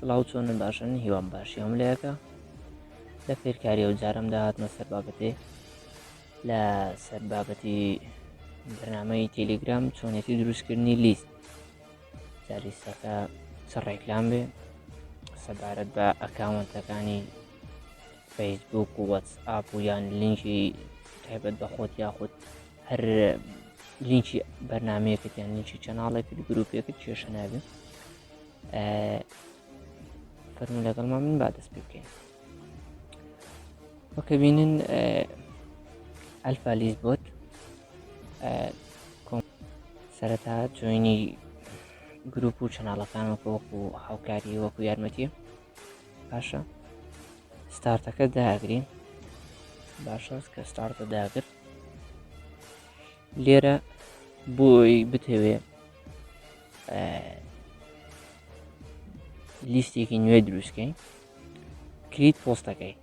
سڵاو چۆنن باشن هیوام باشی هەم لەیەکە لە فێرکاری ئەو جارم داهاتمە سەر بابەتێ لە سەر بابەتی بەرنمەی تەلیگرام چۆنێتی دروستکردنی لیست جالیستەکە چ ڕێکلام بێ سەبارەت بە ئەکاونتەکانی فەیسبوک و وەتس ئاپ و یان لینکی تایبەت بە خۆت یاخود هەر لینکی بەرنمەیەکت یان لینکی چەناڵێکت گرروپێکت کێشە نابێت فەرمو لەگەڵمان من با دەست پێ بکەین وەکە بینن ئەلفا لیز بۆت سەرەتا جوێنی گروپ و چەناڵەکان وەکو وەکو هاوکاری وەکو یارمەتی باشە ستارتەکە داگرین باشە کە ستارتە داگرت لێرە بۆی بتەوێ لیستێکی نوێ دروستکەین کریت پۆستەکەی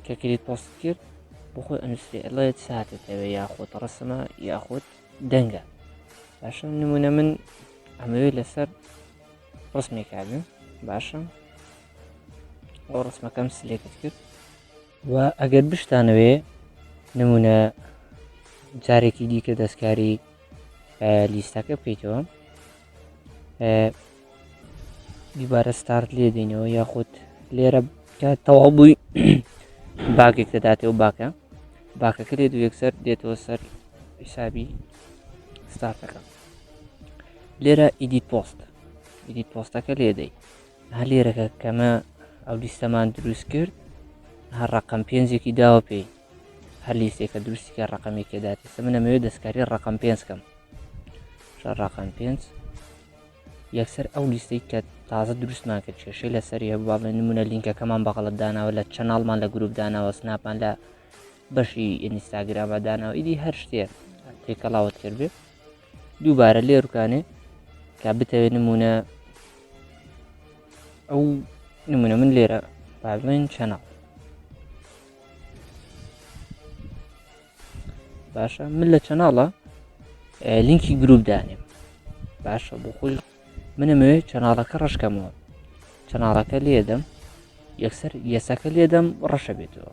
کە کریت پۆست کرد بخۆی ئەنووسێ ئەڵێت ساتێتەوە یاخۆت ڕسمە یاخۆت دەنگە باشە نمونە من ئەمەوێت لەسەر ڕسمێکابن باشە ئەو ڕسمەکەم سلێکت کرد و ئەگەر بشتانەوێ نمونە جارێکی دیکە دەستکاری لیستەکە بکەیتەوە دیبارە ستارت لێ دەینەوە یاخود لێرە تەواو بووی باگێک دەداتەوە باکە باکەکە لێ دوو یەکسەر دێتەوە سەر حیسابی ستارتەکە لێرە ئیدیت پۆست ئیدیت پۆستەکە لێدەی هەر لێرەکە کەمە ئەو لیستەمان دروست کرد هەر ڕقم پێنجێکی داوە پێی هەر لیستێکە دروستیکە ڕقمێکی داتێسە من ئەمەوێت دەستکاری ڕقم پێنج کەم ڕقم پێنج یەکسەر ئەو لیستەی کە تازە دروستمان کرد کێشەی لەسەری هەبوو باڵێ نمونە لینکەکەمان بەغڵت داناوە لە چەناڵمان لە گروپ داناوە سناپان لە بەشی ئینستاگرامە داناوە ئیدی هەر شتێ تێکەڵاوت کردێت دووبارە لێ ڕکانێ کا بتەوێت نمونە ئەو نمونە من لێرە بابلین چەناڵ باشە من لە چەناڵە لینکی گروپ دانێم باشە بۆ خۆی منەمەوێت چەناڵەکە ڕشکەمەوە چەناڵەکە لێدەم یەکسەر یەسەکە لێدەم ڕەشە بێتەوە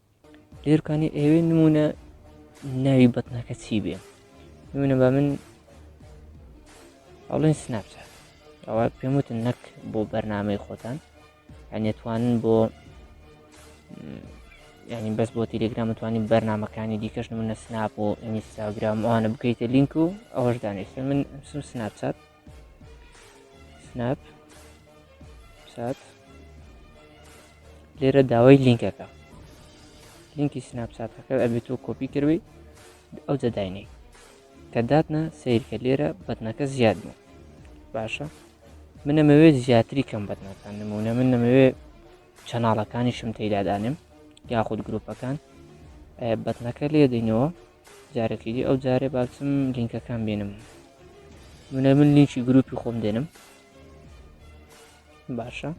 لێرکانی ئێوێ نمونە ناوی بەتنەکە چی بێ نمونە بە من ئەڵێن سناپچات ئەوە پێم وتن نەک بۆ بەرنمەی خۆتان ئەنێتوانن بۆ ینی بەس بۆ تیلگرام توانین بەرنمەکانی دیکەش منە سناپ و ئینستاگرام ئەوانە بکەیتە لینک و ئەوەش دانیشتن من سم سناپچات سناپ سات لێرە داوای لینکەکە لینکی سناپساتەکە ئەبێت تۆ کۆپی کردی ئەو جەداینەی کە داتنا سیرکە لێرە بەتنەکە زیاد بوو باشە من نەمەوێت زیاتری کەم بەتنەکان نمونە من نەمەوێت چەناڵەکانیشم تێدادانم یاخود گروپەکان بەتنەکە لێ دەینەوە جارەکی دی ئەو جارێ باچم لینکەکان بینم منە من لینکی گروپی خۆم دێنم باشە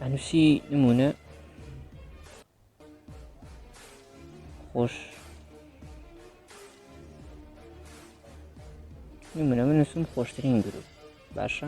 ئەنووسی نمونە خۆش نمونە من نووسم خۆشترین گروپ باشە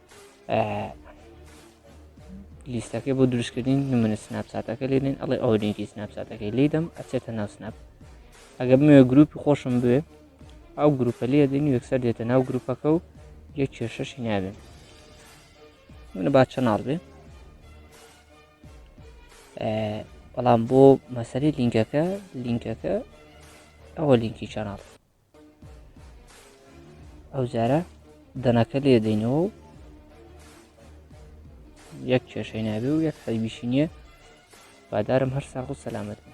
لیستەکەی بۆ دروستکردین نمونە سناپساتەکە لێنین ئەڵێ ئەو لینکی سناپساتەکەی لیدەم ئەچێتە ناو سناپ ئەگەر بمێ گروپی خۆشم بێ ئەو گروپە لێ دێن یەکسەر دێتە ناو گروپەکە و یە کێشەشی نابێن منە با چەناڵ بێ بەڵام بۆ مەسەری لینکەکە لینکەکە ئەوە لینکی چەناڵ ئەو جارە دەنەکە لێ دەینەوە و یەک کێشەی نابێ و یەک حەیبیشی نییە بادارم هەر ساغ و سەلامەت بن